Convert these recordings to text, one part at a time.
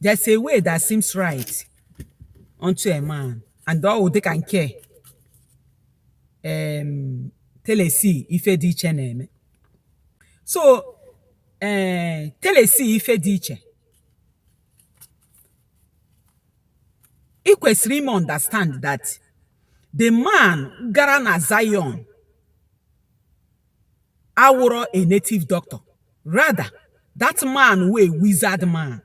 There's a way that seems right unto a man, and ọ wụ dịka nke ee telesi ife dị iche na-eme. So ee telesi ife dị iche ị kwesịrị ime understand that the man gara na Zion awụrọ a native doctor, rather that man wụ a wizard man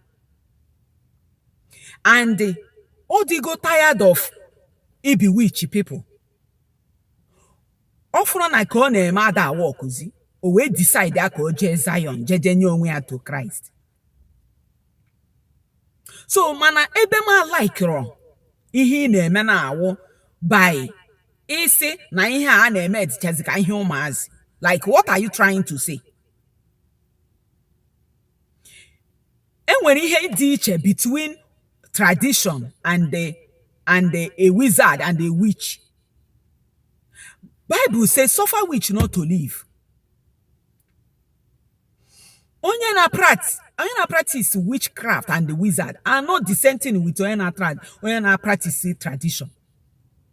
and ọ dịgo tired of i bewitch people. Ọ fụrụ na ka ọ na-eme ada awọkụzi, o wee decide ya ka o jee Zion jee jee nye onwe ya to Christ. So mana ebe m alaikirọ ihe ị na-eme na-awụ by ịsị na ihe a a na-eme dịchazi ka ihe ụmụazị like what are you trying to say e nwere ihe dị iche between tradition and the and the a wizard and a witch bible say suffer witch not to live onye na prat onye na practice witchcraft and the wizard are not the same thing with onye na trad onye na practice tradition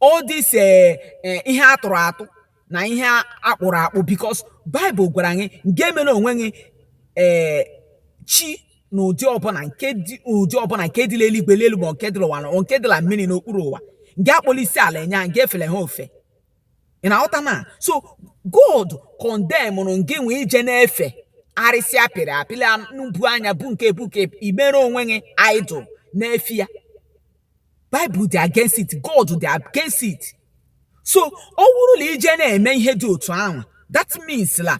all this eh, eh, ihe a tụrụ atụ na ihe a kpụrụ akpụ because Bible gwara anyị ngị emela onwe gị eh, chi na ụdị ọbụla nke dị ụdị ọbụla nke dị la eluigwe n'elu ma nke dị la ụwa na nke dị la mmiri n'okpuru ụwa ngị akpọla isi ala enye ha ngị efela ha ofe ị na-aghọta na so God condemnụrụ ngị nwa ije na-efe arịsị a pịrị apị n'ubu anya bụ nke bụ nke imere onwe gị idol na-efe ya Bible dị against it, God dị against it. So ọ wụrụ na ije na-eme ihe dị otu ahụ, that means la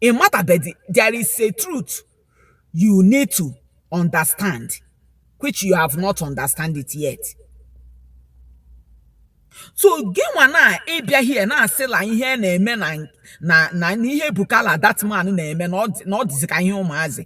ị matabedị there is a truth you need to understand which you have not understand it yet. so gị nwa na ịbịa here na-asị la ihe a na-eme na na na na ihe Ebuka la that man na-eme na ọ dị- na ọ dịzi ka ihe ụmụazị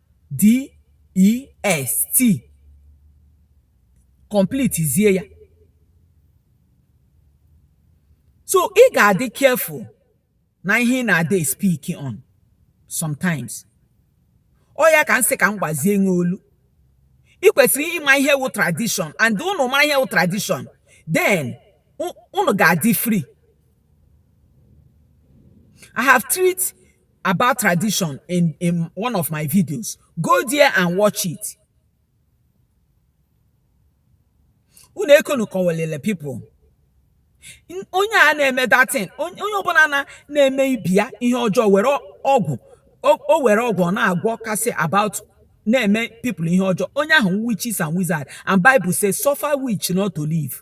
DEST complete zie ya so ị ga-adị careful na ihe ị na-ade speak on sometimes ọ ya ka m sị ka m gbazie nwe olu ị kwesịrị ịma ihe wụ tradition and ụnụ mara ihe wụ tradition then ụnụ ga-adị free I have treat about tradition in, in one of my videos. Go there and watch it. Unu ekonu kọwalele people. N- Onye a na-eme that thing, onye onye ọbụla na- na-eme ibe ya ihe ọjọọ were ọ- ọgwụ, o o were ọgwụ ọ na-agwọ kasị about na-eme people ihe ọjọọ. Onye ahụ witches and wizard and Bible says suffer witch not to live.